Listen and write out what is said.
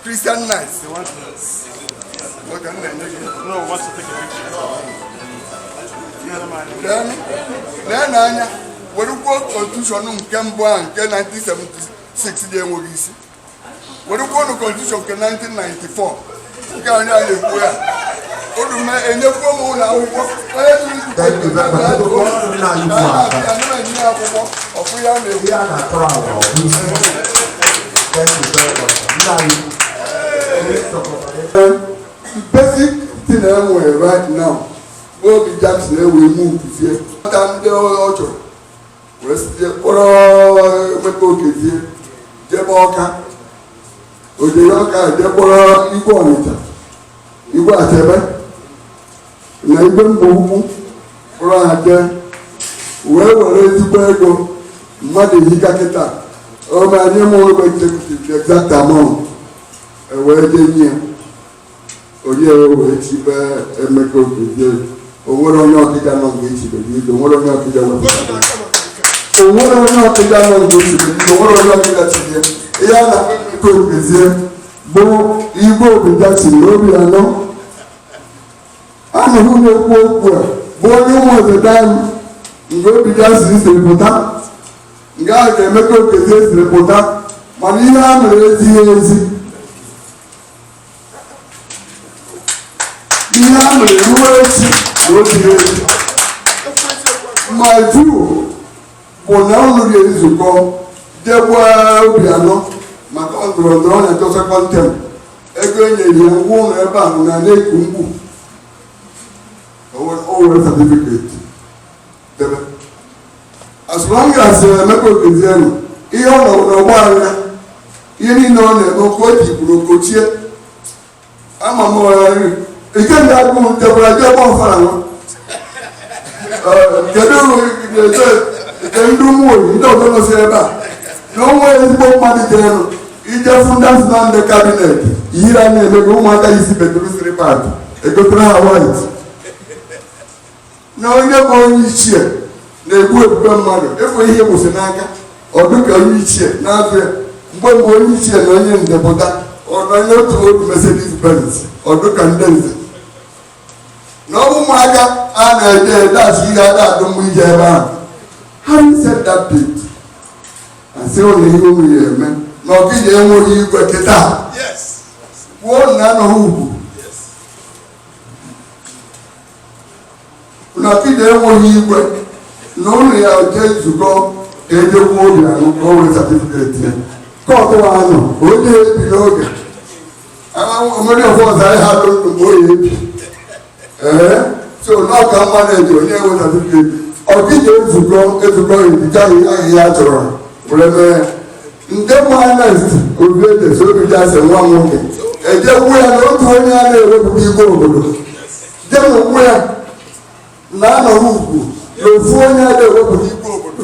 Christian knights. They want nice. Look, I'm not making it. No, what's the picture? Then, then, Anya, werekwuo constitution nke mbụ a nke 1976 dị enweghị isi werekwuonụ constitution nke 1994 nke anyị a na-ekwu ya unu enyekwuo m ụlọ akwụkwọ basic thing I wear right now, Obi Jackson, we move to here. I'm the old wee site kpọrọ emeka okezie jebe ọka o jere ọka je kpọrọ igwe ọnịcha igwe achebe na igwe mbaukwu kpọrọ ha jee wee were ezigbo ego mmadụ ehika kịta amaghị m ụlọ executive the exact amount e wee jee nye ya onye wee chibe emeka okezie o nwere onye ọkịja nọ mgbe echibe gị ido o nwere onye ọkịja wepụtara o nwere onye ọkịja nọ mgbe echibe gị o nwere onye ọkịja tinye ihe a na-akpọ emeka okezie bụ igwe obi jackson na obiano aha m na-ekwu okwu a bụ onye ụmụ odeda m ebe obi jackson siri pụta nga emeka okezie siri pụta mana ihe a mere ezighị ezi ihe a mere ruo echi na o zighị ezi my view bụ na ọ lụrụ ya nzukọ jekwa obiano maka ọ ndọrọ ndọrọ na-achọ sekọnd tem ego e nyere ya ụgwọ ụlọ ebe a bụ na na-eku mkpu o were satifiketi debe as long as emeka okezie nọ ihe ọ nọrọ n'ọgba anya ihe niile ọ na-eme okwu o ji kwuru okochie ama m ike ndị agụ ntekwara dị ọ gba ọfala nwa kedu nke ndị ụmụ oyi ndị ọzọ nọsi ebe a na onwe ezigbo mmadụ ga-enụ i jee fụ ndị a sị na ndị kabinet ihere ana-eme gị ụmụaka isi beduru siri pati egotere ha white na onye bụ onye ichie na-egbu ebube mmadụ ịfụ ihe gwụsị n'aka ọ dụ ka onye ichie na-azụ ya mgbe mgbe onye ichie na onye ndepụta ọ na onye otu otu Mercedes Benz ọ dụ ka ndị nze na ọ bụ ụmụaka a na-ede ede asụ ihe ada adụ mgbe ije ebe ahụ having said that bit asị ụlọ ihe unu ya eme na ọkịja enweghị igwe kịta kwuo na anọghị ugwu na ọkịja enweghị igwe na unu ya eje nzukọ ka ejekwuo obiano ka o wee satifiketi ya kọtụ anụ onye ebiri oge onye ọzọ anyị ha dụ mgbe oyi ebi ee so na ọ ka mma na-eji onye ewe satifiketi ọkịja ezukọ ezukọ ebita ihe ha chọrọ were mee ndị mụ ernest obiejesi obijackson nwa m nwoke ejekwu ya na otu onye a na-ewepụta igwe obodo jemụkwu ya na anọghị ugwu na ofu onye a na-ewepụta igwe obodo